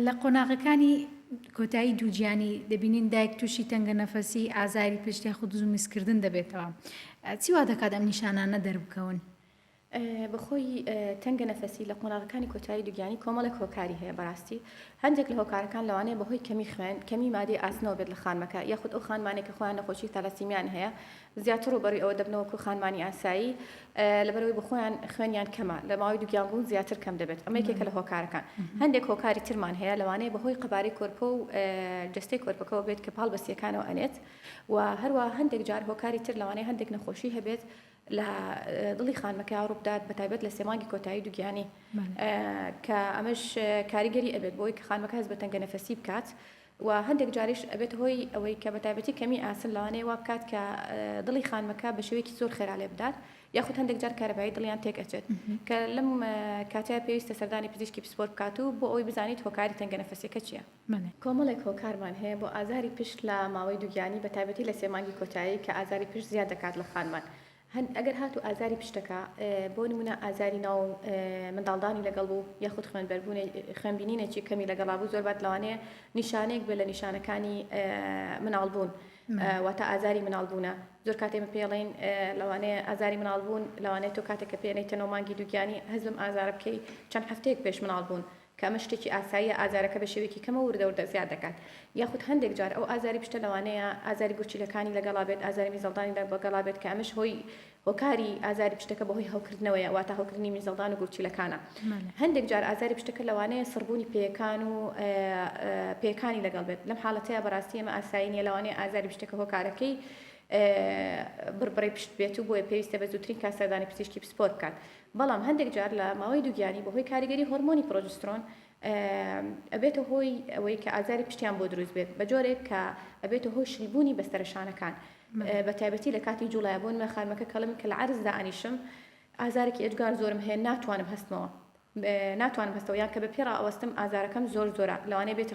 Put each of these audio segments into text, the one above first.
لە قۆناغەکانی کۆتایی دووگیانی دەبینین دایک تووشی تەنگەنەفەسی، ئازاری پشت یاخود زوو میزکردن دەبێتەوە. چی وا دەکات ئەم نیشانانە دەربکەون؟ بەخۆی تەنگەنەفەسی لە قۆناغەکانی کۆتایی دووگیانی کۆمەڵێک هۆکاری هەیە بەڕاستی هەندێک لە هۆکارەکان لەوانەیە بەهۆی کەمی خوێن، کەمی مادەی ئاسنەوە بێت لە خانمەکە یاخود ئەو خانمانەی کە خۆیان نەخۆشی تالاسیمیان هەیە زیاتر ڕووبەڕووی ئەوە دەبنەوە وەکو خانمانی ئاسایی لەبەرئەوەی بەخۆیان خوێنیان کەمە لە ماوەی دووگیان بوون زیاتر کەم دەبێت ئەمە یەکێکە لە هۆکارەکان هەندێک هۆکاری ترمان هەیە لەوانەیە بەهۆی قەبارەی کۆرپە و جەستەی کۆرپەکەەوە بێت کە پاڵ بەسیەکانەوە ئەنێت و هەروە هەندێک جار هۆکاری تر لەوانەیە هەندێک نەخۆشی هەبێت لە دڵی خانمەکە ڕووبدات بە تایبەت لە سێمانگی کۆتایی دوگیانی کە ئەمەش کاریگەری ئەبێت بۆی کە خانمەکە هەز بە تەنگە نەفەسی بکات و هەندێک جاریش ئەبێتە هۆی ئەوەی کە بەتایبەتی کەمی ئاسن لەوانەیە وا بکات کە دڵی خانمەکە بە شێوەیەکی زۆر خێرا لێ بدات یاخود هەندێک جار کارەبایی دڵیان تێک ئەچێت کە لەم کاتەیە پێویستە سەردانی پزیشکی پسپۆر بکات و بۆ ئەوەی بزانیت هۆکاری تەنگەنەفەسیەکە چیە. کۆمەڵێک هۆکارمان هەیە بۆ ئازاری پشت لە ماوەی دووگیانی بەتایبەتی لە سێ مانگی کۆتایی کە ئازاری پشت زیاد دەکات لە خانمان هەن ئەگەر هاتوو ئازاری پشتەکە بۆ نمونە ئازاری ناو منداڵدانی لەگەڵ بوو یاخود خوێنبەربوونێ خوێنبینینێکی کەمی لەگەڵا بوو زۆر بات لەوانەیە نیشانەیەک بێ لە نیشانەکانی مناڵبوون واتە ئازاری مناڵبوونە زۆر کاتێمە پێڵین لەوانەیە ئازاری مناڵبوون لەوانەیە تۆ کاتێکە پێێنەی تەنۆ مانگی دووگیانی هەزم ئازارە بکەی چەند هەفتەیەک پێش مناڵبوون کە ئەمە شتێکی ئاساییە ئازارەکە بە شێوەیەکی کەمەوە وردە وردە زیاد دەکات یاخود هەندێک جار ئەو ئازاری پشتە لەوانەیە ئازاری گورچیلەکانی لەگەڵا بێت ئازاری میزەڵدانی لەگەڵا بێت کە ئەمەش هۆی هۆکاری ئازاری پشتەکە بەهۆی هەوکردنەوەیە واتە هەوکردنی میزەڵدان و گورچیلەکانە هەندێک جار ئازاری پشتەکە لەوانەیە سڕبوونی پێیەکان و پێیەکانی لەگەڵ بێت لەم حاڵەتەیە بەڕاستی ئەمە ئاسایی نیە لەوانەیە ئازاری پشتەکە هۆکارەکەی بڕبڕی پشت بێت و بۆیە پێویستە بە زووترین کات سەردانی پزیشکی پسپۆر بکات بەڵام هەندێک جار لە ماوەی دووگیانی بەهۆی کاریگەری هۆرمۆنی پرۆجسترۆن ئەبێتە هۆی ئەوەی کە ئازاری پشتیان بۆ دروست بێت بە جۆرێک کە ئەبێتە هۆی شلبوونی بەستەرە شانەکان بە تایبەتی لە کاتی جوڵایا بۆن مە خانمەکە کەڵم کە لە عرزدا ئەنیشم ئازارێکی ئێجگار زۆرم هەیە ناتوانم هەستمەوە ناتوانم هەستەوە یان کە بە پێڕا ئەوەستم ئازارەکەم زۆر زۆرە لەوانەیە بێتە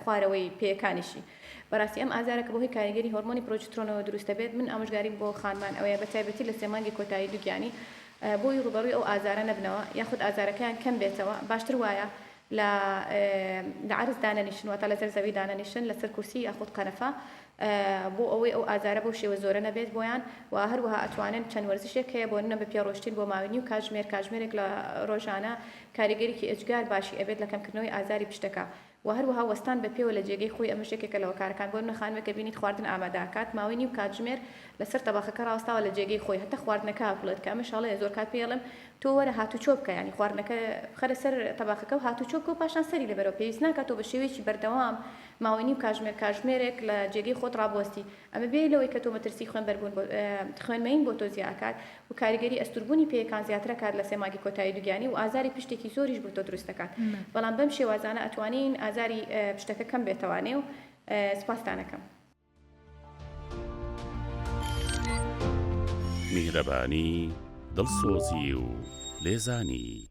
خوارەوەی پێیەکانیشی بەراستی ئەم ئازارە کە بەهۆی کاریگەری هۆرمۆنی پرۆجترۆنەوە دروست دەبێت من ئامۆژگاریم بۆ خانمان ئەوەیە بەتایبەتی لە سێ مانگی کۆتایی دوگیانی بۆی ڕوبەڕوی ئەو ئازارە نەبنەوە یاخود ئازارەکەیان کەم بێتەوە باشتر وایە لە لە عەرز دانەنیشن واتە لەسەر زەوی دانەنیشن لەسەر کورسی یاخود قەنەفە بۆ ئەوەی ئەو ئازارە بەو شێوە زۆرە نەبێت بۆیان و هەروەها ئەتوانن چەند وەرزشێک هەیە بۆ نە بە پێ ڕۆشتین بۆ ماوەی نیو کاتژمێر کاتژمێرێک لە ڕۆژانە کاریگەریکی ئێجگار باشی ئەبێت لە کەمکردنەوەی ئازاری پشتەکە و هەروەها وەستان بە پێوە لە جێگەی خۆی ئەمەش یەکێکە لە هۆکارەکان بۆ نمونە خانمێک کە بینیت خواردن ئامادە ئەکات ماوەی نیو کاتژمێر لەسەر تەبەخەکە ڕاوەستاوە لە جێگەی خۆی هەتا خواردنەکە ئەکوڵێت کە ئەمەش هەڵەیە زۆر کات پێی ئەڵێم تۆ وەرە هاتوچۆ بکە یانی خواردنەکە بخەرە سەر تەبەخەکە و هاتوچۆ بکە و پاشان سەری لێبەرەوە پێویست ناکات تۆ بە شێوەیەکی بەردەوام ماوەی نیو کاژمێر کاژمێرێک لە جێگەی خۆت ڕابوەستی ئەمە بێ لەوەی کە تۆ مەترسی خوێنبەربوون بۆ خوێن مەیین بۆ تۆ زیا ئەکات و کاریگەری ئەستوربوونی پێیەکان زیاتر ئەکات لە سێ مانگی کۆتایی دوگیانی و ئازاری پشتێکی زۆریش بۆ تۆ دروست ئەکات بەڵام بەم شێوازانە ئەتوانین ئازاری پشتەکە کەم بێتەوە نێو سپاستان ئەکەم. میهرەبانی، دڵسۆزی و لێزانی.